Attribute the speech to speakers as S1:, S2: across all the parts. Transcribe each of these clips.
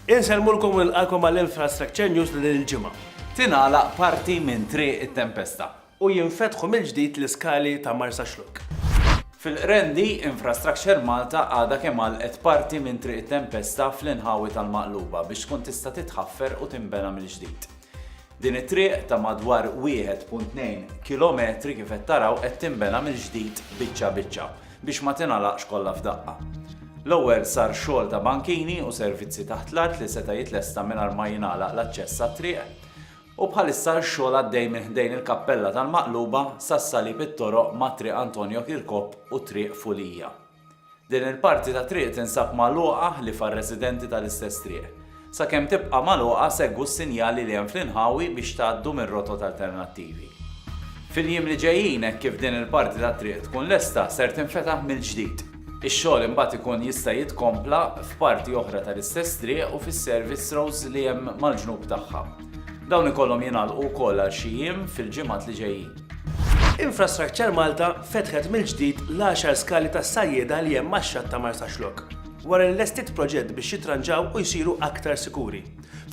S1: Insellmulkom u nilqalkom għal Infrastructure News ta' din il-ġimgħa. Tingħalaq
S2: parti minn Triq it-Tempesta. U jinfetħu
S1: mill-ġdid l-iskali ta' Marsaxlokk. Fil-Qrendi,
S2: Infrastructure Malta għadha kemm għalqet parti minn Triq it-Tempesta fl-inħawi tal-Maqluba biex tkun tista' titħaffer u tinbena mill-ġdid. Din it-triq ta' madwar 1.2 kilometri kif qed taraw qed tinbena mill-ġdid biċċa biċċa biex ma tingħalaqx kollha f'daqqa. L-ewwel sar xogħol ta' bankini u servizzi taħt l-art li seta' jitlesta mingħajr ma jingħalaq l-aċċess għat-triq u bħalissa x-xogħol għaddej minn ħdejn il-Kappella tal-Maqluba sas-Salib it-toroq mat-Triq Antonio Kirkop u Triq Fulija. Din il-parti ta' triq tinsab magħluqa ħlief għar-residenti tal-istess triq. Sakemm tibqa' magħluqa segwu s-sinjali li hemm fl-inħawi biex tgħaddu minn rotot alternattivi. Fil-jiem li ġejjin hekk kif din il-parti tat-triq tkun lesta ser tinfetaħ mill-ġdid. Ix-xogħol imbagħad ikun jista' jitkompla f'parti oħra tal-istess triq u fis-service roads li hemm mal-ġnub tagħha. Dawn ikollhom jingħalqu wkoll għal xi jiem fil-ġimgħat li ġejjin. Infrastructure
S1: Malta fetħet mill-ġdid l-għaxar skali tas-sajjieda li hemm max-xatt ta' Marsaxlokk, wara li lestiet proġett biex jitranġaw u jsiru aktar sikuri.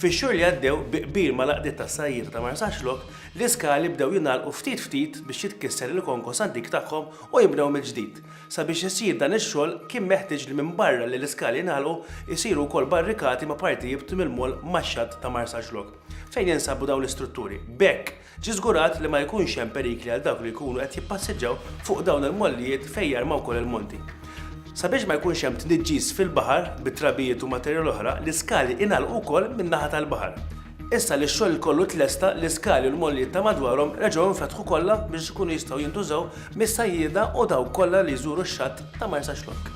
S1: Fix-xhur li għaddew, bi qbil mal-għaqdiet tas-sajjieda ta' Marsaxlokk, l-iskali bdew jingħalqu ftit ftit biex jitkisser il-konkos antik tagħhom u jinbnew mill-ġdid. Sabiex isir dan ix-xogħol, kien meħtieġ li minbarra li l-iskali jingħalqu, isiru wkoll barrikati ma' partijibt mill-moll max-xatt ta' Marsaxlokk, fejn jinsabu dawn l-istrutturi. B'hekk, Ġie żgurat li ma jkunx hemm perikli għal dawk li jkunu qed jippassiġġaw fuq dawn il-mollijiet fejn jarmaw ukoll il-monti. Sabiex ma jkunx hemm tniġġis fil-baħar bit-trabijiet u materjal oħra, l-iskali ingħalqu wkoll min-naħa tal-baħar. Issa li x-xogħol kollu tlesta, l-iskali u l-mollijiet ta' madwarhom reġgħu nfetħu kollha biex ikunu jistgħu jintużaw mis-sajjieda u dawk kollha li jżuru x-xatt ta' Marsaxlokk.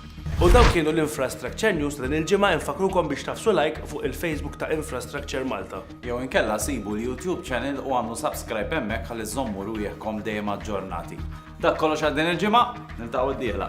S1: U dawk kienu l-Infrastructure News ta' din il-ġimgħa infakkrukom biex tagħfsu like fuq il-Facebook ta' Infrastructure Malta. Jew inkella sibu
S2: l-YouTube channel u agħmlu subscribe hemmhekk ħalli żżommu rwieħkom dejjem aġġornati. Dak kollox għal din il-ġimgħa, niltaqgħu d-dieħla.